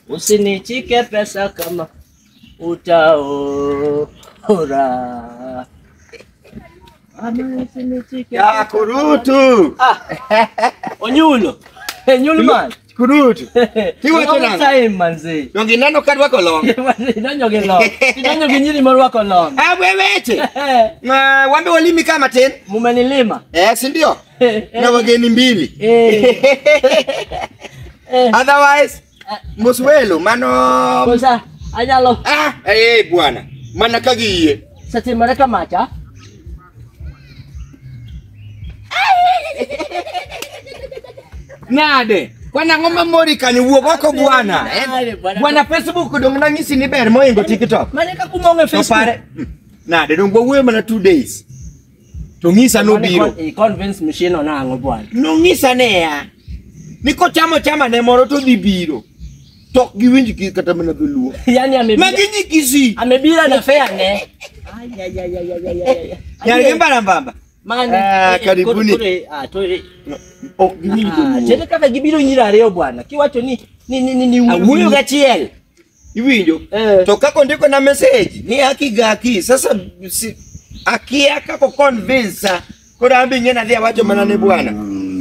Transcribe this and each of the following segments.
Usinichike pesa kama utaora. Mama, usinichike Ya pesa. kurutu. Ah, Onyulo. Onyulo man. Kurutu. Tiwa Long tena. time manzi. Dongi neno kadwako long. Idonjo gi long. Idonjo gi nyiri morwako long. Ah, weweche. Ma wambe walimi kama tin. Mumenilima. Eh, si ndio? na wageni mbili Eh, otherwise moswelo mano kosa anyalo ah, eh, bwana mana ka giyie satimore kamacha. nade kwana ang'o mamori kanyo wuog oko bwana eh? Nade, bwana. bwana facebook dong nang'isi ni ber moingo tiktok Mane ka kumong' e to Facebook. pare nade dong wawuoyo mana two days To ng'isa nobiro. I convince machine ona ang'o bwana. Nong'isa ne ya. Ni kochamo chama ne moro to dhi biro. To giwinj ki kata mana dholuo. Yaani amebira. Magi nyi kisi. Amebira na fair ne. Ay ay ay ay ay ay. Yaani gembara mbamba. Mane. Ah, karibuni. Ah, to. Ok giwinj dholuo. Chete kaka gibiro nyira ariyo bwana. Kiwacho ni ni ni ni ni. Awuyo gachiel. iwinjo Eh. to kaka ondiko na message ni haki ga haki sasa si, akia kako convince koro ambi ng'e nadhi awacho mana ne bwana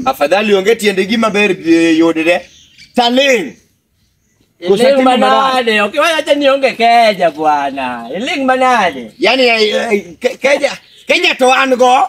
afadhali onge tiende gima ber eh, yudre taling Iling Kusatimu manade, okay, wewe acha nionge keja bwana. Iling manade. yani eh, eh, ke- keja keja to an go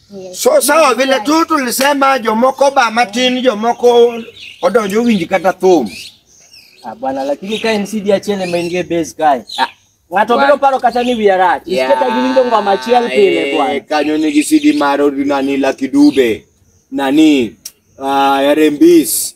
So sawa vile tu tulisema jomoko ba matin jomoko odonjo winji kata thum. Ah, bwana lakini kae ni CD achiel ema in gi base kae. Ah, Ng'ato bwana. biro paro kata ni wiya rach. Yeah. Isiketa giwinjo ngoma achiel pile Eh, bwana. Kanyo nigi CD mar nani Lucky Dube. Nani? Ah, Yarembis.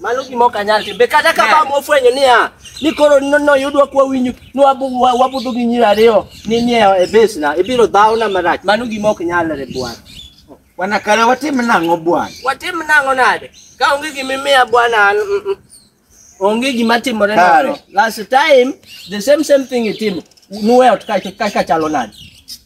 Mano gima ok anyal timo. Be kata ka bam ofwenyo niya, ni koro no- noyudwa kwa winyu, ni wabu- wa- wabudho gi nyiri ariyo ni ni e e base na, ibiro dhawna marach. Mano gima ok nyalre bwana. Bwana kare watim nang'o bwana? Watim nang'o nade? Ka onge gima imiya bwana an, mm, mm. onge gima timore Kare. nang'o. Last time the same same thing itimo. Nuwe ot ka ka- ka chalo nade?